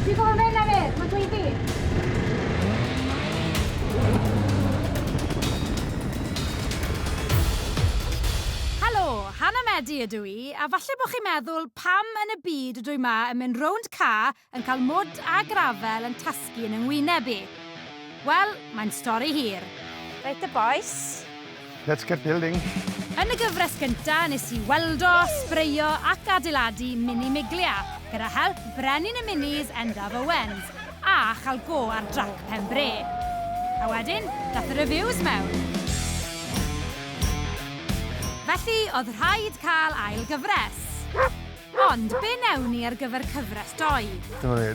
Dwi fel yn enna fe, mae'n dweud fi. Helo, Hannah Medi ydw i, a falle bod chi'n meddwl pam yn y byd ydw i ma yn mynd rownd ca yn cael mwd a grafel yn tasgu yn yngwyneb i. Wel, mae'n stori hir. Reit y bois, Let's get building! Yn y gyfres gyntaf nes i weld o, sbreio ac adeiladu mini Miglia gyda help brenin y minis Endaf Owens a chael go ar drac pen bre. A wedyn, dath y reviews mewn. Felly, oedd rhaid cael ail gyfres. Ond, be newn ni ar gyfer cyfres doi? Dyma ni.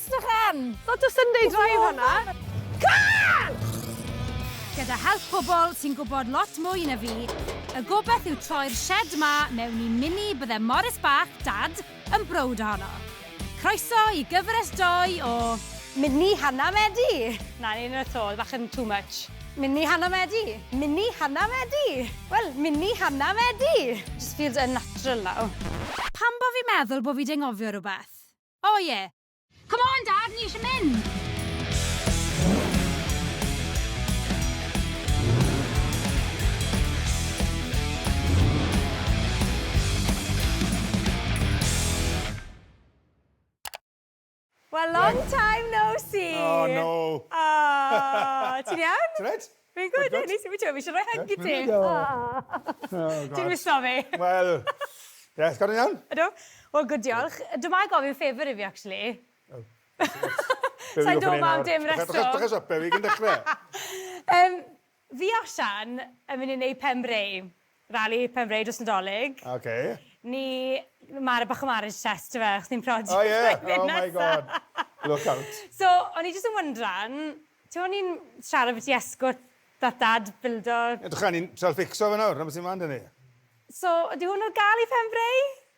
Edrych lan! Lot o Sunday Drive fan'na. Car! Gyda help pobl sy'n gwybod lot mwy na fi, y gobaith yw troi'r shed 'ma mewn i mini bydde Morris bach, Dad, yn browd ohono. Croeso i gyfres doi o... Mini Hannah Medi! Na, ni ddim eto, bach yn too much. Mini Hannah Medi! Mini Hannah Medi! Wel, mini Hannah Medi! Just feels unnatural now. Pam bo fi meddwl bo fi 'di anghofio rhywbeth? O ie! Come on Dad, ni eisiau mynd! Wel long time no see! O no! O! Ti'n iawn? Ti reit? Fi'n gwybod e, nes i fi siarad rhoi hug i ti. Ti'n miso fi. Wel, yes, gan iawn? Ydw. Wel, good diolch. Dyma i gofyn favour i fi, actually. Sa'n dod ma am dim reswm. Dwch a siop e, fi gyn dechrau. Fi a Sian yn mynd i wneud pen breu. Rali Penfrae dros Nadolig. Ok. Ni mar- bach o marriage test yw fe, chdi'n prodi Oh yeah, oh my god. flwyddyn nesa. Look out. So, o'n i jyst yn wyndran, ti o'n i'n siarad ambyti esgort that dad bildo... Edrycha, ni'n trial fixo fe nawr, 'na be' sy'n mlan 'da ni. So, ydi hwn ar ga'l i Penfrae?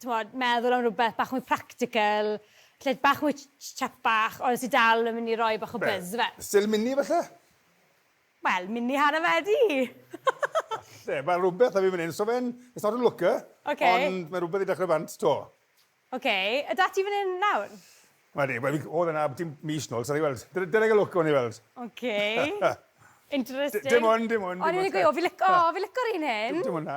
t'mod, meddwl am rwbeth bach mwy practical, lle bach mwy ch-ch chat bach ond sy dal yn myn' i roi bach o buzz ife. Be'? Still mini falle? Wel, mini hanner fe ydi! Falle, ma' rwbeth 'da fi fan 'yn, so fe'n, it's not a looker. Ok. Ond ma' rwbeth i dechre bant 'to. Ok, a 'da ti fan 'yn nawr? Wel ydi, wel fi, o'dd e 'na byti mis nôl, so ni weld. Dyna, dyna fe lwc, gawn ni weld. Ok. Interesting. Dim on', dim on', dim ots 'de. O'n i myn' i gweu' o fi lic- o fi lico'r un hyn. Dim on' 'na.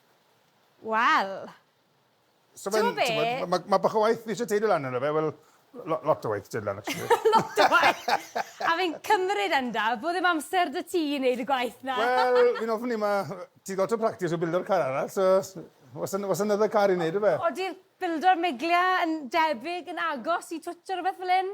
Wel. So fe'n... T'mo' be'? ...t'mod ma' ma' bach o waith fi isie teulu lan yno fe wel lo- lot o waith teulu lan actually. Lot o waith! A fi'n cymryd enda bo' ddim amser 'da ti i neud y gwaith 'na. Wel fi'n ofni ma' ti lot o practis o bildo'r car arall so o's an- o's another car i neud yfe? Odi'r bildo'r Miglia yn debyg yn agos i Twtsh ne' rwbeth fel 'yn?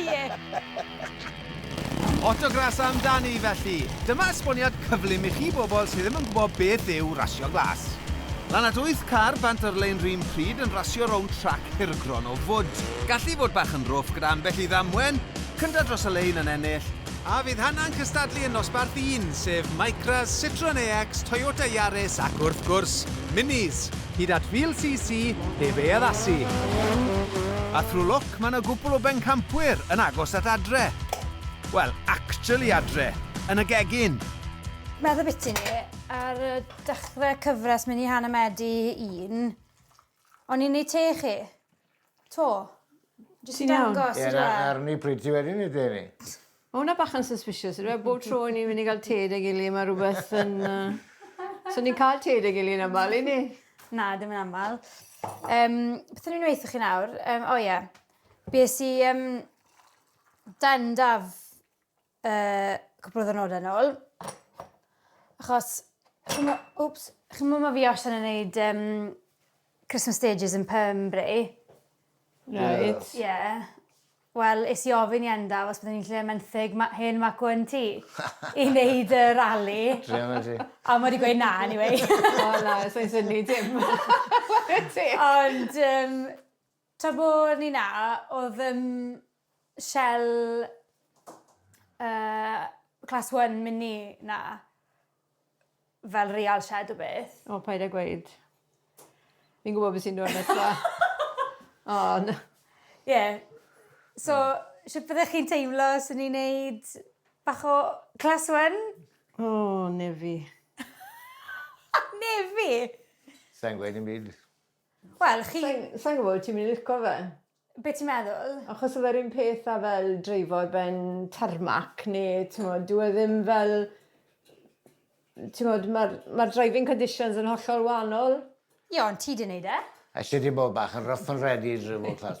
Ie! Autograss amdani, felly. Dyma esboniad cyflym i chi bobl sydd ddim yn gwybod beth yw rasio glas. Lan at wyth car bant ar lein run pryd yn rasio rownd trac hirgron o fwd. Gallu fod bach yn rwff gyda ambell i ddamwen, cynta dros y lein yn ennill. A fydd hana'n cystadlu yn nosbarth un, sef Micras, Citroen AX, Toyota Yaris ac wrth gwrs, Minis! hyd at fil CC heb ei addasu. A through luck mae 'na gwpwl o bencampwyr yn agos at adre. Wel, actually adre, yn y gegin. Medd ambiti ni, ar y dechre cyfres mini hanner medi un, o'n i'n neud te i chi. To. Jyst yn dangos on'd yw e? Ie, arni pretty wedyn i te ni. Ma' wnna bach yn suspicious on'd yw e? Bob tro i ni myn' i ga'l te 'da gily ma' rwbeth yn yy... So ni'n ca'l te 'da gily yn amal i' ni? Na, dim yn amal. Yym, beth o'n i'n weutho chi nawr? Yym, o ie. Bues i yym, dan daf uh, cwpl o ddynodau yn ôl. Achos, chi'n oops, chi'n mwyn mae fi os yn gwneud um, Christmas stages yn Pembury. Right. Ie. Yeah. Wel, is i ofyn i enda, os byddwn ni'n lle menthyg ma hen mac o yn ti, i wneud y rali. Dream yn ti. A mae wedi gweud na, anyway. o na, sa'n syni dim. Ond, um, Tra bo ni 'na, odd yym Shel yy class one mini 'na fel real shed o beth. O paid a gweud. Fi'n gwbo be' sy'n dod nesa. O na. Ie. So shwt fyddech chi'n teimlo os o'n i'n neud bach o class one? O na fi. Na fi? Sai'n gweud dim byd. Wel chi... Sai'n sai'n gwbo wyt ti'n myn' i lico fe. Be' ti'n meddwl? Achos o fe'r un peth a fel dreifo ar ben tarmac ne' t'mod dyw e ddim fel t'mod ma'r ma'r driving conditions yn hollol wahanol. Ie ond ti 'di neud e. Elli di bod bach yn rough and ready drivo class.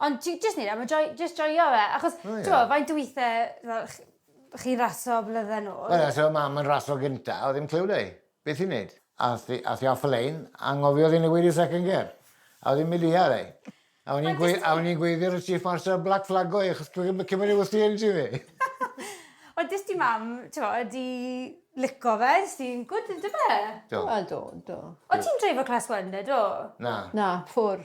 Ond ti jyst neud e am y joi- jyst joio fe achos... O ie. ...t'mo' faint o withe fel ch- chi'n raso blydde nôl... Wel os odd mam yn raso gynta odd ddim cliw 'da 'i beth i neud. Ath 'i ath 'i off y lein a anghofio odd 'i newid i second gear a odd 'i'n mynd ia 'da 'i. A o'n i'n gweu- a o'n i'n gweiddi ar y chief marshal black flag go 'i achos cw- cw- cymod i wthio un ti fi. Wel dy's ti mam t'mo' 'di lico fe sy'n gwd yndyfe? Do. Wel do do. O't ti'n dreifo class one 'da do? Na. Na, ffwr.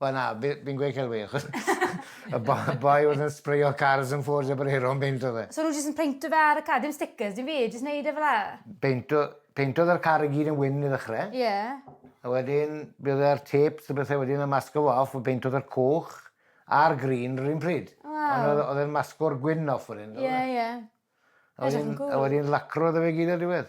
Wel na, fi, fi'n gweud celwydd, achos y bo- y boi oedd yn sbreio cars yn Ford Jabrero yn beintio fe. So nhw jyst yn peintio fe ar y car, dim stickers, dim byd, jyst neud e fel 'a? Beintio, peintodd yr car i gyd yn wyn i ddechre. Ie. A wedyn, fe oedd e'r tapes a bethe wedyn yn masgo fo off, a beintodd yr coch a'r green yr un pryd. Waw. Ond oedd, oedd e'n masgo'r gwyn off wedyn. Ie, ie. A wedyn, a wedyn lacro iddo fe gyd ar diwedd.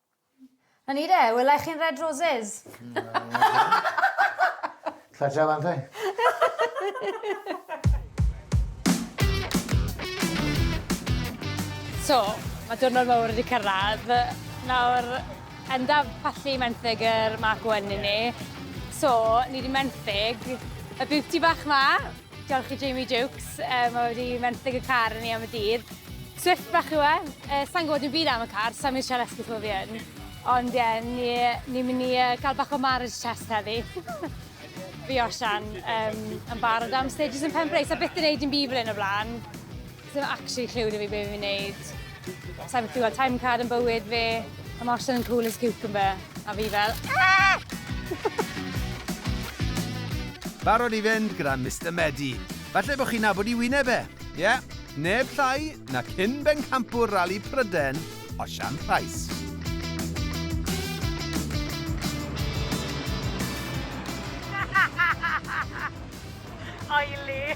'Na ni de, wela i chi yn Red Roses. Tata Fante. So, ma' diwrnod mowr wedi cyrradd. Nawr, enda pallu menthyg yr Mark One i ni. So, ni 'di menthyg y beauty bach 'ma. Diolch i Jamie Jukes, um, mae wedi menthyg y car yn ni am y dydd. Swift bach yw e, uh, sa'n gwybod yn byd am y car, sa'n mynd siarad esgus o fi yn. Ond ie, yeah, ni'n ni mynd i uh, cael bach o marriage test heddi. fi Osian um, yn barod am stages yn Pembrey, so beth yn neud yn byd fel yn y blaen. Ddim actually clue da fi beth fi'n neud. Sa'n gwybod clywed time card yn bywyd fi. Mae Marshall yn cool as cucumber. A fi fel... Ah! Barod i fynd gyda Mister Medi. Falle bod chi'n nabod i wyneb e. Ie, yeah, neb llai na cyn bencampwr rali Pryden, Osian Price. Oily!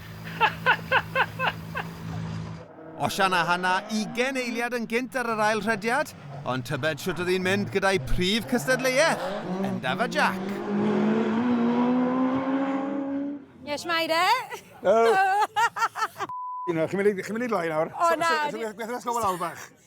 Osian a Hana ugen eiliad yn gynt ar yr ail rhediad, ond tybed shwt oedd hi'n mynd gyda'i prif cystadleuaeth, Endaf a Jac? Ie, shwmae de? Helo! Chi'n mynd i loi nawr? O na! Gwnewch y slofa lawr bach.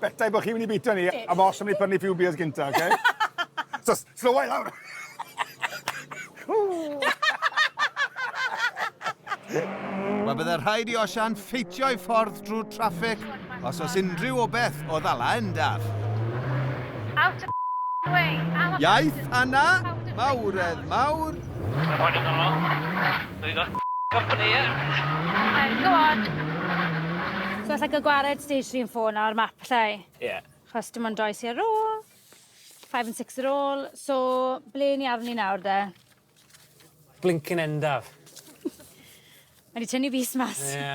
Beta i bod chi'n mynd i bita ni, a fo os am ni prynu few beers gynta, oce? So, slowa i lawr! Wel, bydde rhaid i Osian ffeitio ei ffordd drwy'r traffig os oes unrhyw o beth o ddala endaf. Out of way! Iaith Anna, mawredd mawr! Dwi 'di ga'l company ie? Right, go on. So alla i ca'l gwared stage three and four nawr map alla i? Ie. Chos dim ond doi sy ar ôl. Five and six ar ôl. So ble ni arni nawr de? Blincin endaf. Mae 'di tynnu fys mas. Ie.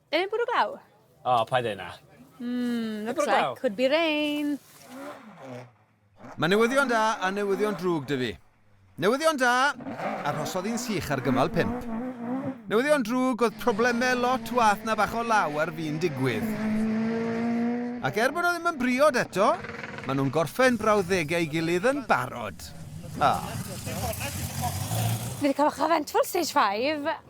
Yw e'n bwrw glaw? O, paid â neud 'na. Mm, looks like could be rain. Mae newyddion da a newyddion drwg 'da fi. Newyddion da, arhosodd hi'n sych ar gymal pump. Newyddion drwg oedd problemau lot wath na bach o law ar fin digwydd. Ac er bod nhw ddim yn briod eto, maen nhw'n gorffen brawddegau ei gilydd yn barod. Ah. Ni wedi cael ochr eventful stage five.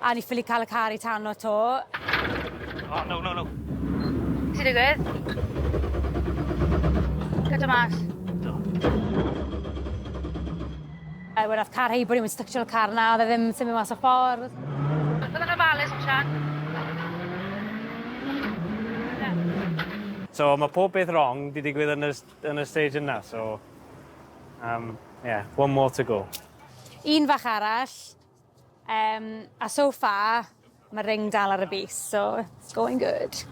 A ni ffili cael y car i tano to. Oh, no, no, no. Ti digwydd? Cydra mas. Do. Er, wedd oedd car heibwr i'n mynd styctio'r car na, oedd e ddim symud mas o ffordd. Oedd yna falus yn sian? So mae pob beth wrong di digwydd yn y, yn y stage yna, so... Um, yeah, one more to go. Un fach arall. Yym a so far ma ring dal ar y bys so it's going good.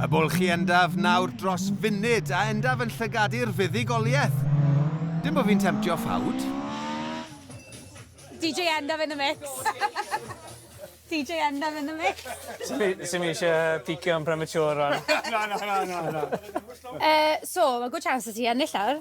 A bwlchu endaf nawr dros funud a endaf yn llygadu'r fuddugoliaeth. Dim bo fi'n temtio ffawd. DJ Endaf in the mix. DJ Endaf in the mix. Sim eisiau picio yn premature rwan. Na na na na na. Yy so ma good chance 'da ti ennill nawr.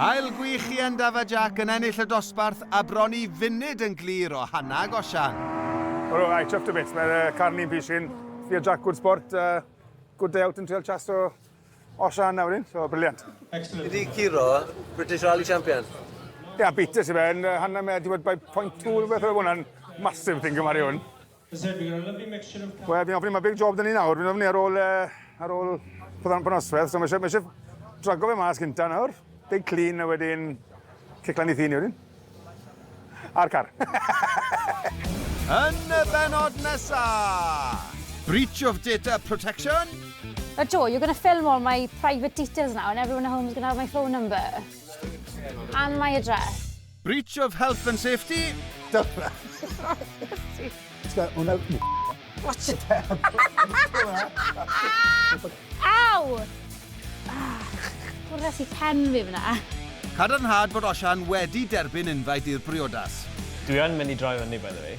Ail gwych i Endaf a Jac yn ennill y dosbarth a bron i funud yn glir o Hannah ag Osian. Wel o, I chuffed a bit, mae'r uh, carn i'n pishin. Fi a Jac, good sport, uh, good day out yn treol chas o Osian nawr un, so briliant. Excellent. Ydy Ciro, British Rally Champion? Ia, yeah, beat us i fe, yn uh, Hannah mae wedi bod by point two rhywbeth o hwnna'n massive thing gymaru hwn. Zed, we've got a lovely mixture of... Wel, fi'n ofyn, mae big job dyn ni nawr, fi'n ofyn ar ôl, uh, ar ôl pethau'n panosfedd, so mae eisiau, mae eisiau drago fe mas gynta nawr, big clean a wedyn ciclan i ddyn ni wedyn. A'r car. Yn y benod nesa! Breach of data protection? But Joe, you're going to film all my private details now and everyone at home is going to have my phone number. And my address. Breach of health and safety. Dyna. Hwna... Watch it down. Aw! Bwrdd i pen fi fyna. Cadarnhad bod Osian wedi derbyn invite i'r briodas. Dwi yn mynd i droi fyny by the way.